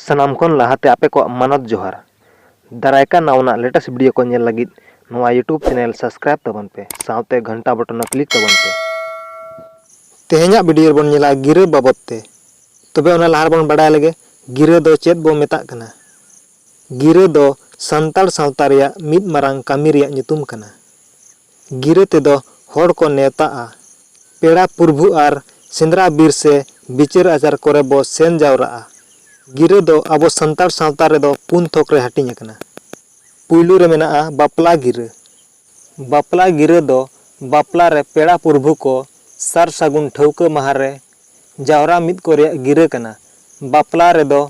ᱥᱟᱱᱟᱢ ᱠᱷᱚᱱ ᱞᱟᱦᱟ ᱛᱮ ᱟᱯᱮ ᱠᱚᱣᱟᱜ ᱢᱟᱱᱚᱛ ᱡᱚᱦᱟᱨ᱾ ᱫᱟᱨᱟᱭ ᱠᱟᱱ ᱱᱟᱣᱟᱱᱟᱜ ᱞᱮᱴᱮᱥᱴ ᱵᱷᱤᱰᱤᱭᱳ ᱠᱚ ᱧᱮᱞ ᱞᱟᱹᱜᱤᱫ ᱱᱚᱣᱟ ᱭᱩᱴᱩᱵᱽ ᱪᱮᱱᱮᱞ ᱥᱟᱵᱽᱥᱠᱨᱟᱭᱤᱵᱽ ᱛᱟᱵᱚᱱ ᱯᱮ ᱥᱟᱶᱛᱮ ᱜᱷᱟᱱᱴᱟ ᱵᱚᱴᱚᱱ ᱦᱚᱸ ᱠᱞᱤᱠ ᱛᱟᱵᱚᱱ ᱯᱮ᱾ ᱛᱮᱦᱮᱧᱟᱜ ᱵᱷᱤᱰᱤᱭᱳ ᱨᱮᱵᱚᱱ ᱧᱮᱞᱟ ᱜᱤᱨᱟᱹ ᱵᱟᱵᱚᱛ ᱛᱮ᱾ ᱛᱚᱵᱮ ᱚᱱᱟ ᱞᱟᱦᱟ ᱨᱮᱵᱚᱱ ᱵᱟᱰᱟᱭ ᱞᱮᱜᱮ ᱜᱤᱨᱟᱹ ᱫᱚ ᱪᱮᱫ ᱵᱚ ᱢᱮᱛᱟᱜ ᱠᱟᱱᱟ᱾ ᱜᱤᱨᱟᱹ ᱫᱚ ᱥᱟᱱᱛᱟᱲ ᱥᱟᱶᱛᱟ ᱨᱮᱭᱟᱜ ᱢᱤᱫ ᱢᱟᱨᱟᱝ ᱠᱟᱹᱢᱤ ᱨᱮᱭᱟᱜ ᱧᱩᱛᱩᱢ ᱠᱟᱱᱟ᱾ ᱜᱤᱨᱟᱹ ᱛᱮᱫᱚ ᱦᱚᱲ ᱠᱚ ᱱᱮᱣᱛᱟᱜᱼᱟ᱾ ᱯᱮᱲᱟ ᱯᱩᱨᱵᱷᱩ ᱟᱨ ᱥᱮᱸᱫᱽᱨᱟ ᱵᱤᱨ ᱥᱮ ᱵᱤᱪᱟᱹᱨ ᱟᱪᱟᱨ ᱠᱚᱨᱮ ᱵᱚ ᱥᱮᱱ ᱡᱟᱣᱨᱟᱜᱼᱟ᱾ ᱜᱤᱨᱟᱹ ᱫᱚ ᱟᱵᱚ ᱥᱟᱱᱛᱟᱲ ᱥᱟᱶᱛᱟ ᱨᱮᱫᱚ ᱯᱩᱱ ᱛᱷᱚᱠ ᱨᱮ ᱦᱟᱹᱴᱤᱧ ᱟᱠᱟᱱᱟ᱾ ᱯᱩᱭᱞᱩ ᱨᱮ ᱢᱮᱱᱟᱜᱼᱟ ᱵᱟᱯᱞᱟ ᱜᱤᱨᱟᱹ᱾ ᱵᱟᱯᱞᱟ ᱜᱤᱨᱟᱹ ᱫᱚ ᱵᱟᱯᱞᱟ ᱨᱮ ᱯᱮᱲᱟ ᱯᱩᱨᱵᱷᱩ ᱠᱚ ᱥᱟᱨ ᱥᱟᱹᱜᱩᱱ ᱴᱷᱟᱹᱣᱠᱟᱹ ᱢᱟᱦᱟᱸ ᱨᱮ ᱡᱟᱣᱨᱟ ᱢᱤᱫ ᱠᱚ ᱨᱮᱭᱟᱜ ᱜᱤᱨᱟᱹ ᱠᱟᱱᱟ᱾ ᱵᱟᱯᱞᱟ ᱨᱮᱫᱚ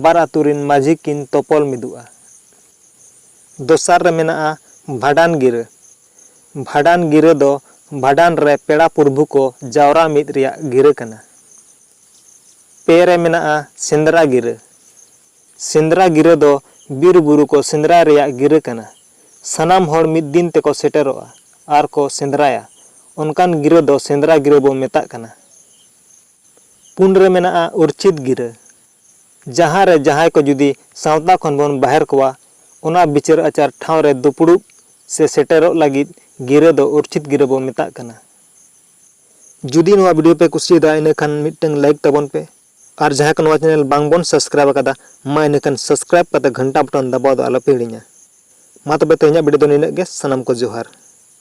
ᱵᱟᱨ ᱟᱹᱛᱩ ᱨᱤᱱ ᱢᱟᱹᱡᱷᱤ ᱠᱤᱱ ᱛᱚᱯᱚᱞ ᱢᱤᱫᱩᱜᱼᱟ᱾ ᱫᱚᱥᱟᱨ ᱨᱮ ᱢᱮᱱᱟᱜᱼᱟ ᱵᱷᱟᱸᱰᱟᱱ ᱜᱤᱨᱟᱹ᱾ ᱵᱷᱟᱸᱰᱟᱱ ᱜᱤᱨᱟᱹ ᱫᱚ ᱵᱷᱟᱸᱰᱟᱱ ᱨᱮ ᱯᱮᱲᱟ ᱯᱩᱨᱵᱷᱩ ᱠᱚ ᱡᱟᱣᱨᱟ ᱢᱤᱫ ᱨᱮᱭᱟᱜ ᱜᱤᱨᱟᱹ ᱠᱟᱱᱟ᱾ ᱯᱮ ᱨᱮ ᱢᱮᱱᱟᱜᱼᱟ ᱥᱮᱸᱫᱽᱨᱟ ᱜᱤᱨᱟᱹ᱾ ᱥᱮᱸᱫᱽᱨᱟ ᱜᱤᱨᱟᱹ ᱫᱚ ᱵᱤᱨ ᱵᱩᱨᱩ ᱠᱚ ᱥᱮᱸᱫᱽᱨᱟᱭ ᱨᱮᱭᱟᱜ ᱜᱤᱨᱟᱹ ᱠᱟᱱᱟ᱾ ᱥᱟᱱᱟᱢ ᱦᱚᱲ ᱢᱤᱫ ᱫᱤᱱ ᱛᱮᱠᱚ ᱥᱮᱴᱮᱨᱚᱜᱼᱟ ᱟᱨ ᱠᱚ ᱥᱮᱸᱫᱽᱨᱟᱭᱟ ᱚᱱᱠᱟᱱ ᱜᱤᱨᱟᱹ ᱫᱚ ᱥᱮᱸᱫᱽᱨᱟ ᱜᱤᱨᱟᱹ ᱵᱚ ᱢᱮᱛᱟᱜ ᱠᱟᱱᱟ᱾ ᱯᱩᱱ ᱨᱮ ᱢᱮᱱᱟᱜᱼᱟ ᱩᱨᱪᱷᱤᱛ ᱜᱤᱨᱟᱹ᱾ ᱡᱟᱦᱟᱸ ᱨᱮ ᱡᱟᱦᱟᱸᱭ ᱠᱚ ᱡᱩᱫᱤ ᱥᱟᱶᱛᱟ ᱠᱷᱚᱱ ᱵᱚᱱ ᱵᱟᱦᱮᱨ ᱠᱚᱣᱟ, ᱚᱱᱟ ᱵᱤᱪᱟᱹᱨ ᱟᱪᱟᱨ ᱴᱷᱟᱶ ᱨᱮ ᱫᱩᱯᱲᱩᱵ ᱥᱮ ᱥᱮᱴᱮᱨᱚᱜ ᱞᱟᱹᱜᱤᱫ ᱜᱤᱨᱟᱹ ᱫᱚ ᱩᱨᱪᱷᱤᱛ ᱜᱤᱨᱟᱹ ᱵᱚ ᱢᱮᱛᱟᱜ ᱠᱟᱱᱟ᱾ ᱡᱩᱫᱤ ᱱᱚᱣᱟ ᱵᱷᱤᱰᱤᱭᱳ ᱯᱮ ᱠᱩᱥᱤᱭᱟᱫᱟ ᱤᱱᱟᱹ ᱠᱷᱟᱱ ᱢᱤᱫᱴᱟᱹᱝ ᱞᱟᱭᱤᱠ ᱛᱟᱵᱚᱱ ᱯᱮ ᱟᱨ ᱡᱟᱦᱟᱸᱭ ᱠᱚ ᱱᱚᱣᱟ ᱪᱮᱱᱮᱞ ᱵᱟᱝ ᱵᱚᱱ ᱥᱟᱵᱥᱠᱨᱟᱭᱤᱵᱽ ᱟᱠᱟᱫᱟ ᱢᱟ ᱤᱱᱟᱹ ᱠᱷᱟᱱ ᱥᱟᱵᱥᱠᱨᱟᱭᱤᱵᱽ ᱠᱟᱛᱮ ᱜᱷᱟᱱᱴᱟ ᱵᱚᱴᱚᱱ ᱫᱟᱵᱟᱣ ᱫᱚ ᱟᱞᱚ ᱯᱮ ᱦᱤᱲᱤᱧᱟ᱾ ᱢᱟ ᱛᱚᱵᱮ ᱛᱮᱦᱮᱧᱟᱜ ᱵᱷᱤᱰᱤᱭᱳ ᱫᱚ ᱱᱤᱱᱟᱹᱜ ᱜᱮ, ᱥᱟᱱᱟᱢ ᱠᱚ ᱡᱚᱦᱟᱨ᱾